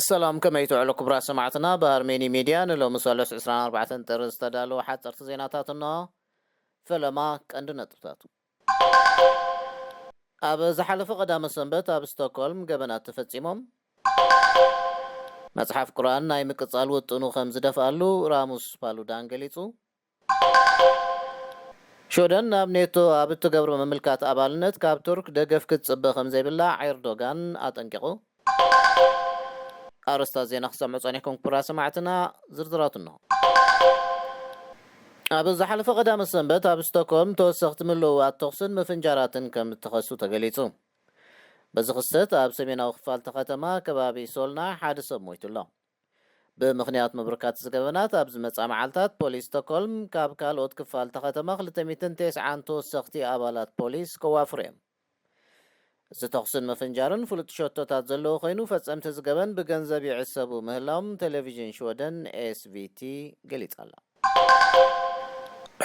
ሰላም ከመይ ትውዕሉ ክቡራት ሰማዕትና ብኣርሜኒ ሚድያ ንሎሚ ሰሉስ ዕስራን ኣርባዕተን ጥሪ ዝተዳለወ ሓጸርቲ ዜናታት እነሆ ፈለማ ቀንዲ ነጥብታቱ ኣብ ዝሓለፈ ቀዳመ ሰንበት ኣብ ስቶኮልም ገበናት ተፈጺሞም። መጽሓፍ ቁርኣን ናይ ምቅጻል ውጥኑ ከም ዝደፍኣሉ ራሙስ ፓሉዳን ገሊጹ። ሽወደን ናብ ኔቶ ኣብ እትገብሮ ምምልካት ኣባልነት ካብ ቱርክ ደገፍ ክትጽበ ከም ዘይብላ ዔርዶጋን ኣጠንቂቑ። ኣርእስታት ዜና ክትሰምዑ ጸኒሕኩም ክቡራት ሰማዕትና፣ ዝርዝራቱ እነሆ። ኣብ ዝሓለፈ ቀዳመ ሰንበት ኣብ ስቶክሆልም ተወሰኽቲ ምልውዋጥ ተኹስን ምፍንጃራትን ከም እተኸሱ ተገሊጹ። በዚ ክስተት ኣብ ሰሜናዊ ክፋል እታ ከተማ ከባቢ ሶልና ሓደ ሰብ ሞይቱ ኣሎ። ብምኽንያት ምብርካት እዚ ገበናት ኣብ ዝመጽኣ መዓልታት ፖሊስ ስቶክሆልም ካብ ካልኦት ክፋል እታ ከተማ ክልተ ሚእትን ቴስዓን ተወሰኽቲ ኣባላት ፖሊስ ከዋፍሩ እዮም። እዚ ተኹስን ምፍንጃርን ፍሉጥ ሸቶታት ዘለዎ ኮይኑ፣ ፈጸምቲ እዚ ገበን ብገንዘብ ይዕሰቡ ምህላዎም ተሌቪዥን ሽወደን SVT ገሊጻ'ላ።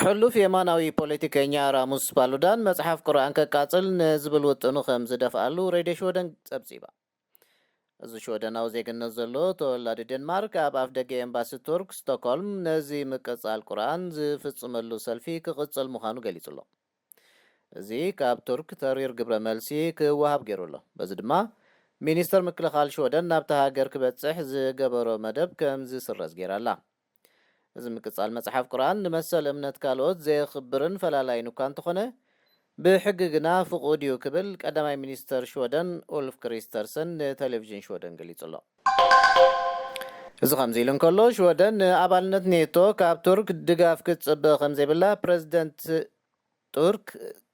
ሕሉፍ የማናዊ ፖለቲከኛ ራሙስ ፓሉዳን መጽሓፍ ቁርኣን ከቃጽል ንዝብል ውጥኑ ከም ዝደፍኣሉ ሬድዮ ሽወደን ጸብጺባ። እዚ ሽወደናዊ ዜግነት ዘለዎ ተወላዲ ዴንማርክ ኣብ ኣፍደገ ኤምባሲ ቱርክ ስቶኮልም ነዚ ምቅጻል ቁርኣን ዝፍጽመሉ ሰልፊ ክቕጽል ምዃኑ ገሊጹ ኣሎ። እዚ ካብ ቱርክ ተሪር ግብረ መልሲ ክወሃብ ገይሩ ኣሎ። በዚ ድማ ሚኒስተር ምክልኻል ሽወደን ናብታ ሃገር ክበጽሕ ዝገበሮ መደብ ከምዝስረዝ ገይራ ኣላ። እዚ ምቅጻል መጽሓፍ ቁርኣን ንመሰል እምነት ካልኦት ዘየኽብርን ፈላላይን እኳ እንተኾነ ብሕጊ ግና ፍቑድ እዩ ክብል ቀዳማይ ሚኒስተር ሽወደን ኡልፍ ክሪስተርሰን ንተሌቪዥን ሽወደን ገሊጹ ኣሎ። እዚ ከምዚ ኢሉ እንከሎ ሽወደን ንኣባልነት ኔቶ ካብ ቱርክ ድጋፍ ክትጽበ ከምዘይብላ ፕረዚደንት ቱርክ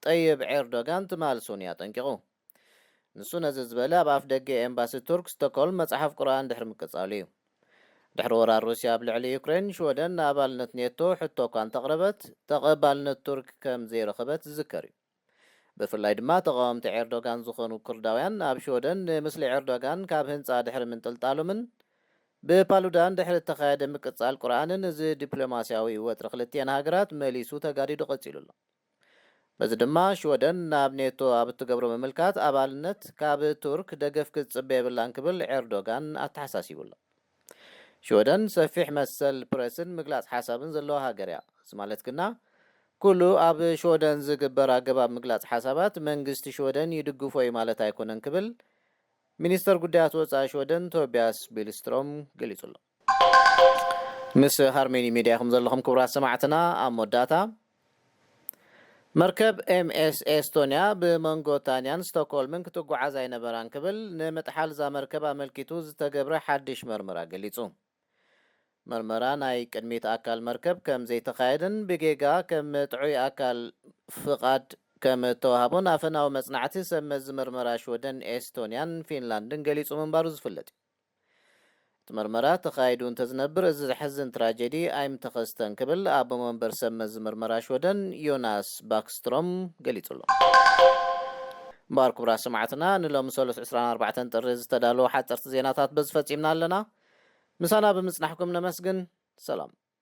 ጠይብ ዔርዶጋን ትማል ሶኑይ ኣጠንቂቑ። ንሱ ነዚ ዝበለ ኣብ ኣፍደገ ኤምባሲ ቱርክ ስቶኮልም መጽሓፍ ቁርኣን ድሕሪ ምቅጻሉ እዩ። ድሕሪ ወራር ሩስያ ኣብ ልዕሊ ዩክሬን፣ ሽወደን ንኣባልነት ኔቶ ሕቶ እኳ እንተቕረበት፣ ተቐባልነት ቱርክ ከም ዘይረኸበት ዝዝከር እዩ። ብፍላይ ድማ ተቓወምቲ ዔርዶጋን ዝኾኑ ኩርዳውያን ኣብ ሽወደን ንምስሊ ዔርዶጋን ካብ ህንጻ ድሕሪ ምንጥልጣሎምን ብፓሉዳን ድሕሪ እተኻየደ ምቅጻል ቁርኣንን እዚ ዲፕሎማስያዊ ወጥሪ ክልቲኤን ሃገራት መሊሱ ተጋዲዱ ቀጺሉ ኣሎ። በዚ ድማ ሽወደን ናብ ኔቶ ኣብ እትገብሮ ምምልካት ኣባልነት ካብ ቱርክ ደገፍ ክትጽበ የብላን ክብል ኤርዶጋን ኣተሓሳሲቡ ኣሎ። ሽወደን ሰፊሕ መሰል ፕረስን ምግላጽ ሓሳብን ዘለዋ ሃገር እያ። እዚ ማለት ግና ኩሉ ኣብ ሽወደን ዝግበር ኣገባብ ምግላጽ ሓሳባት መንግስቲ ሽወደን ይድግፎ እዩ ማለት ኣይኮነን ክብል ሚኒስተር ጉዳያት ወጻኢ ሽወደን ቶብያስ ቢልስትሮም ገሊጹ ኣሎ። ምስ ሃርሜኒ ሚድያ ኢኹም ዘለኹም ክቡራት ሰማዕትና ኣብ መወዳእታ መርከብ ኤምኤስ ኤስቶንያ ብመንጎ ታንያን ስቶኮልምን ክትጓዓዝ ኣይነበራን ክብል ንምጥሓል እዛ መርከብ ኣመልኪቱ ዝተገብረ ሓድሽ መርመራ ገሊጹ። መርመራ ናይ ቅድሚት ኣካል መርከብ ከም ዘይተኻየደን ብጌጋ ከም ጥዑይ ኣካል ፍቓድ ከም እተዋህቦን ኣፈናዊ መጽናዕቲ ሰብ መዚ መርመራ ሽወደን ኤስቶንያን ፊንላንድን ገሊጹ ምንባሩ ዝፍለጥ እዩ። እቲ ምርመራ ተኻይዱ እንተዝነብር እዚ ዘሕዝን ትራጀዲ ኣይምተኸስተን ክብል ኣቦ መንበር ሰብ መዚ ምርመራ ሽወደን ዮናስ ባክስትሮም ገሊጹ ኣሎ። እምበኣር ክቡራት ሰማዕትና ንሎሚ ሰሉስ ዕስራን ኣርባዕተን ጥሪ ዝተዳለዉ ሓጸርቲ ዜናታት በዚ ፈጺምና ኣለና። ምሳና ብምጽናሕኩም ነመስግን። ሰላም።